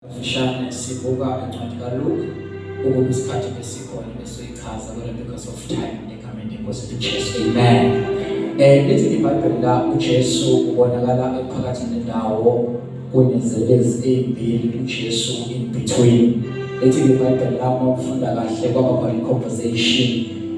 Mfishane sibuka incwadi kaLuke ukuba isikhathi besikhona besoyichaza kodwa because of time negameni lenkosi ethu Jesu. Amen. Eh lithi iBhayibheli la uJesu ubonakala ephakathi nendawo kunezelezi ezimbili uJesu in between. Lithi iBhayibheli la uma ufunda kahle kwaba khona i-conversation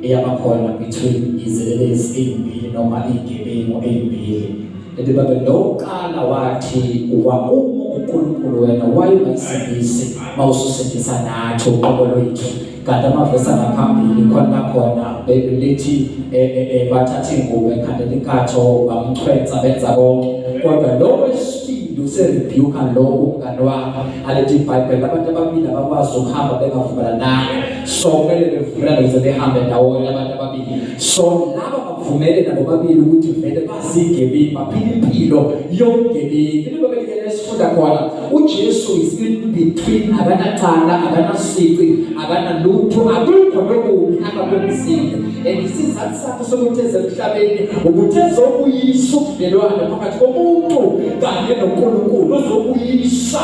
eyabakhona between izelezi ezimbili noma izigebengu ezimbili. Kanti baba lokuqala wathi uba uma uNkulunkulu wena wayungasindisi mawususindisa nathi uqobo lwethu kanti amavesi angaphambili khona khona bebelithi eh, eh, eh, bathatha ingubo ekhandela inkatho bamchwensa benza konke kodwa lo wesibili userebuka lo umngane wakho alethi ibhayibheli abantu ababili abakwazi ukuhamba bengavumelananga so kumele bevulane ukuze behambe ndawonye abantu ababili so laba bavumele nabo babili ukuthi vele bazigebengu baphila impilo yobugebengu into babelekele esifunda khona uJesu is in between akanacala akanasici akanalutho akukho lokubi akakwenzile and isizathu sakhe sokuthi ezemhlabeni ukuthi ezokuyisa ubudlelwane phakathi komuntu kanye noNkulunkulu uzokuyisa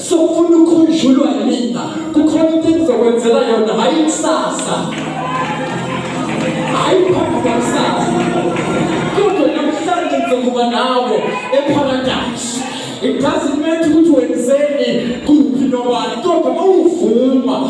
sokufuna ukhunjulwa yinina kukhona into engizokwenzela yona hhayi kusasa hhayi phambi kwakusasa kodwa namhlanje ngizokuba nawe epharadayisi it doesn't matter ukuthi wenzeni kuphi nobani kodwa mawuvuma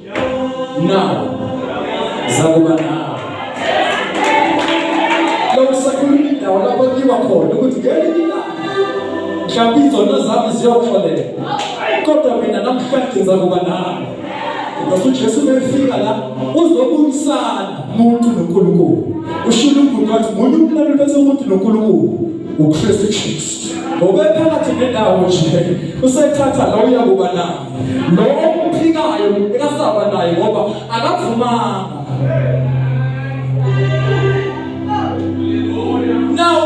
nawo zakuba nawo lokhu sakhuluma indawo lapho kiwa khona ukuthi ngelinye ilanga mhlawumbe izono zami ziyoxolela kodwa mina namhlanje ngizakuba nawo ngoba uJesu befika la uzobuyisana umuntu noNkulunkulu ushilo umuntu wathi munye umlalo bese umuntu noNkulunkulu uKristu Jesu ngoba phakathi nendawo nje usethatha la uyakuba nawo lo okuphikayo ekasaba naye ngoba akavumanga now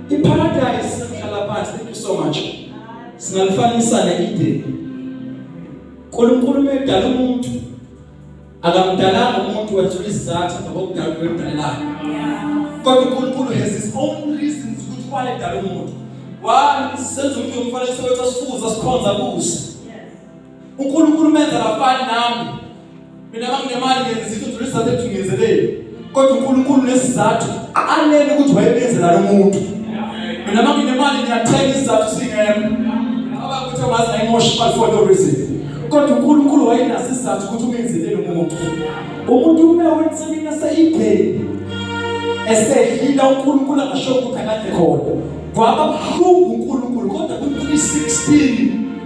iparadise sihlala phansi thank you so much singalifanisa ne Eden uNkulunkulu umedala umuntu Akamdalanga umuntu wethula isizathu ngokudala kwemdalelayo. Kodwa uNkulunkulu has his own reasons ukuthi why edala umuntu. Why senza umuntu umfanekiso wethu asifuza sikhonza kuze. uNkulunkulu menza lafani nami mina manginemali ngenzisa udlulisa lethu ngenzeleni kodwa uNkulunkulu nesizathu alele ukuthi wayebenzela lomuntu mina manginemali ngiyathenga isizathu singekho abakuthi wazi ayimosha imali for no reason kodwa uNkulunkulu wayenaso isizathu ukuthi umenzele lomuntu umuntu uma wensemina seyibheni esedlila uNkulunkulu angasho ukuthi akade khona kwaba buhlungu uNkulunkulu kodwa ku 316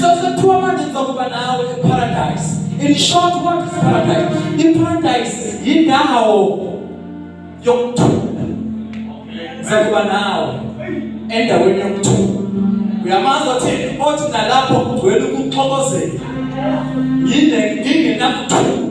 So sekuthiwa manje ngizokuba nawe eparadise. In short what is paradise? Iparadise yindawo yokuthula. Ngizokuba nawe endaweni yokuthula. Uyamazi othi othi nalapho kugcwele ukuxokozela. Yinde ngingenakuthula.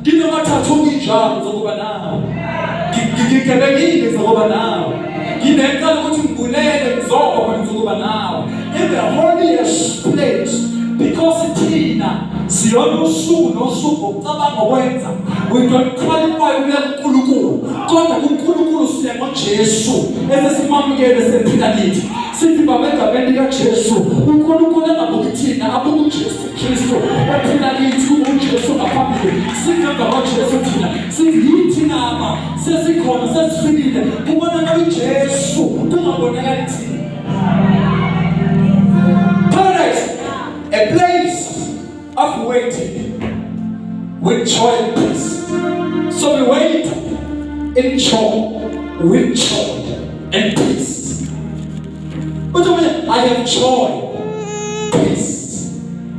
Nginamathathu nginjalo zokuba nawe. Ngigebekile zokuba nawe. Nginecala ukuthi ngibulele ngizoba khona zokuba nawe. In the holiest place because thina siyona usuku nosuku ngokucabanga okwenza we don't qualify ukuya kuNkulunkulu kodwa kuNkulunkulu siya ngoJesu esesimamukele sephila kithi sithi baba egameni likaJesu uNkulunkulu angabuki thina abuke uJesu Jesu waphila kithi uJesu ngaphambili singanga waJesu thina siyithi nama sesikhona sesifikile kubonakala uJesu kungabonakali thina paradise a place of waiting with joy and peace so we wait in joy with joy and peace Uthi mina I have joy, peace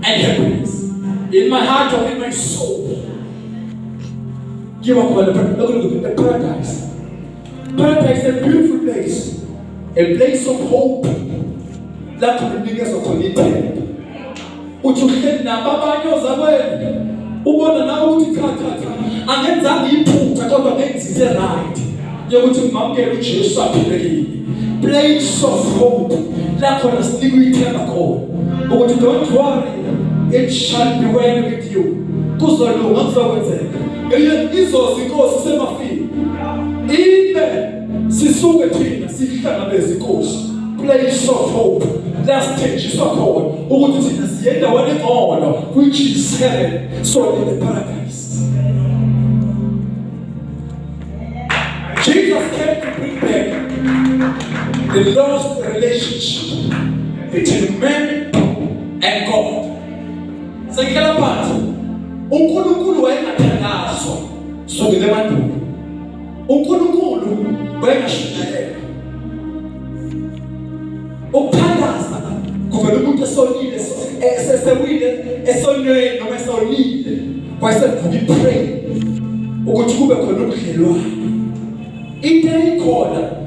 and happiness in my heart or in my soul. Give up on the paradise. Paradise is a beautiful place, a place of hope. Lapho nginikeza khona ithemba. uthi uhleli nabo abanye ozakwenu ubona nawe ukuthi cha cha cha angenzanga iphutha kodwa ngenzise right yokuthi ngimamukele uJesu aphile kimi place of hope la khona sinikwa ithemba khona ukuthi don't worry it shall be well with you kuzolunga kuzokwenzeka eyo izozi inkosi semafini ibe sisuke thina sihlangabeze inkosi place of hope lasithenjiswa khona ukuthi thina siye endaweni engcono which is heaven so in the paradise Jesus came to bring back the lost relationship between man and God sekela phansi uNkulunkulu wayengathandazwa sukele emandulo uNkulunkulu wayengashumayela ukuthandaza kuvela umuntu esonile esesewile esonweni noma esonile wayesevuka ipray ukuthi kube khona ubudlelwane into eyikhona